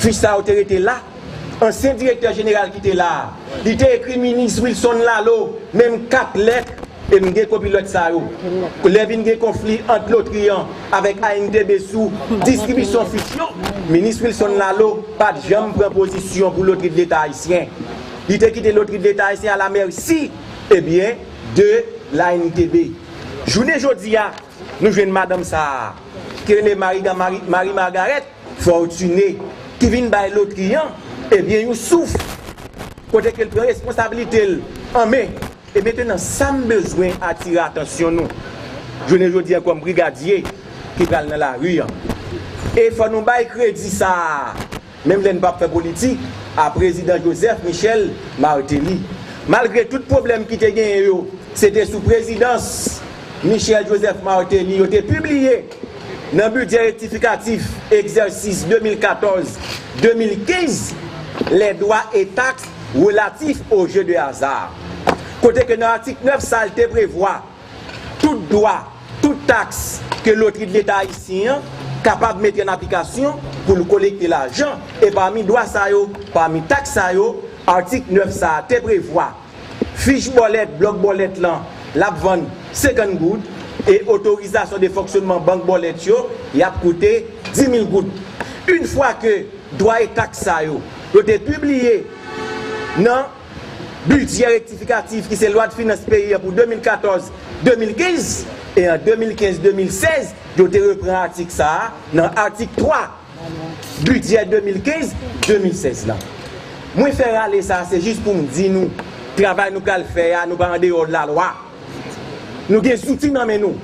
Fi sa yo te rete la. Ansyen direktè jeneral ki te la a, li te ekri minis Wilson Laleau menm 4 lèt, e m gen kopi lèt sa yo. Lè vin gen konfli ant lotri an avèk ANTB sou distribisyon fich yo, minis Wilson Laleau pa t janm pran pozisyon pou lotri de leta ayisyen. Li te kite lotri de leta ayisyen a la mèsi, e byen, de l'ANTB. Jounen jodi a, Nou jwenn madanm sa a, ki rele Mariga, Marie Margaret, Fortuné, ki vin bay lotri an, ebyen yon souf, kote ke l pran responsabilite l an men. E mentenan, sa m bezwen atire atansyon nou, jounen jodi an, kòm brigadye ki pral nan lari an, e fò nou bay kredi sa a, Menm lè n pap fè politik a prezidan Joseph Michel Martelly. Malgre tout pwoblèm ki te genyen yo, se te sou prezidans Michel Joseph Martelly yo te pibliye nan bidjè rektifikatif egzèsis 2014, 2015 les droits et taxes relatifs aux jeux de hasard. Kote ke nan atik 9 sa l te prevwa. Tout dwa, tout taks ke Lotri d'Leta Ayisyen an kapab mete an aplikasyon pou l kolekte lajan, e pami dwa sa yo, pami taks sa yo, atik 9 sa a te prevwa, fich bòlèt, blòk bòlèt lan, l ap vann 50 goud, e otorizasyon de fonksyonnman bank bòlèt yo, y ap koute 10 mil goud. Une fwa ke dwa e taks sa yo, yo te pibliye nan. Bidjè rektifikatif ki se lwadfinans peyi an pou 2014, 2015 e an 2015, 2016 yo te repran atik sa a nan atik 3 bidjè 2015, 2016 lan. Mwen fè rale sa a se jis pou m di nou travay nou pral fè a nou pa andeyò lalwa. Nou gen zouti nan men nou.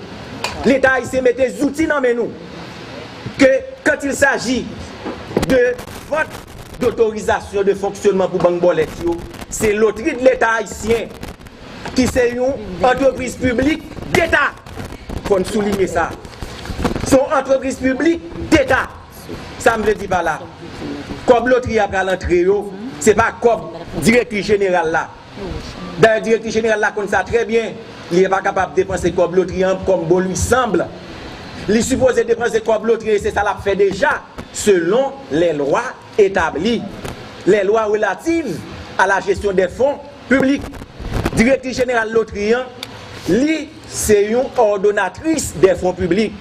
Leta ayisyen mete zouti nan men nou ke kantilsaji de vant. Dotorizasyon de fonksyonman pou bank bòlèt yo, se Lotri de Leta Ayisyen, ki se yon antrepriz piblik deta, fò n soulinye sa. Se yon antrepriz piblik deta. Sa m vle di pa la, kòb lotri a pral antre yo, se pa kòb Direktris Jeneral la. Dayè direktris jeneral la konn sa trè byen, li epa kapab depanse kòb lotri an kòm bon lui sanble. Li sipoze depanse kòb lotri e se sa lap fè deja selon lè lwa etabli lè lwa relativ a la jesyon dè fon piblik. Direktris jeneral lotri an, li se yon òdonatris dè fon piblik.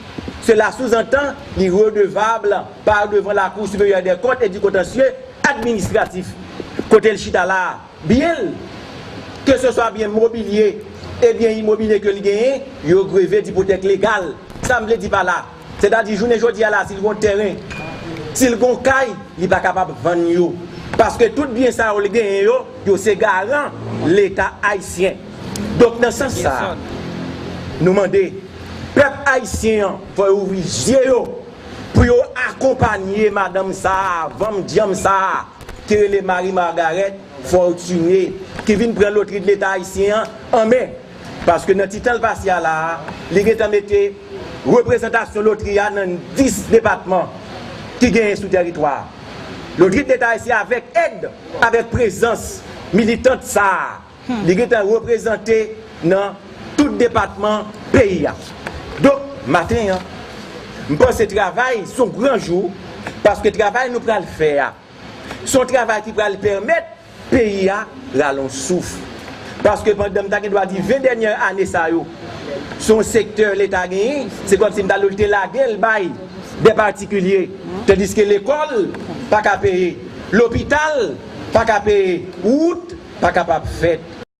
Sela souzantan li redevabl pa devan lakou siperyè dè kont e di kontansye administratif kote l chita la a. Byen l, ke se swa byen mobilye e byen imobilye ke li genyen, yo greve d'ipotèk legal. Sa m vle di pa la, sètadi jounen jodi a la si l gon tèren, si l gon kay, li pa kapab vann yo, paske tout byen sa yo li genyen yo, yo se garan Leta Ayisyen. Donk nan sans sa a, nou mande, pèp Ayisyen an fò yo ouvri zye yo pou yo akonpanye madanm sa a, vanm dyanm sa a, ki rele Marie Margarette Fortuné ki vin pran lotri leta ayisyen an an men paske nan ti tan l pase a la a li gentan mete reprezantasyon lotri a nan 10 depatman ki genyen sou tèritwa lotri leta ayisyen avèk èd avèk prezans militant sa a. Li gentan reprezante nan tout depatman peyi a. Donk, maten an, m panse travay s on gran jou paske travay nou pral fè a s on travay ki pral pèmèt peyi a rale yon souf. Paske pandan m ta gen dwa di 20 dènyè ane sa yo s on sektè Leta genyen, se kòmsi m ta dwe l te lage l bay dè patikilye tandiske lekòl pa ka peye. Lopital paka peye, wout pa kapab fèt.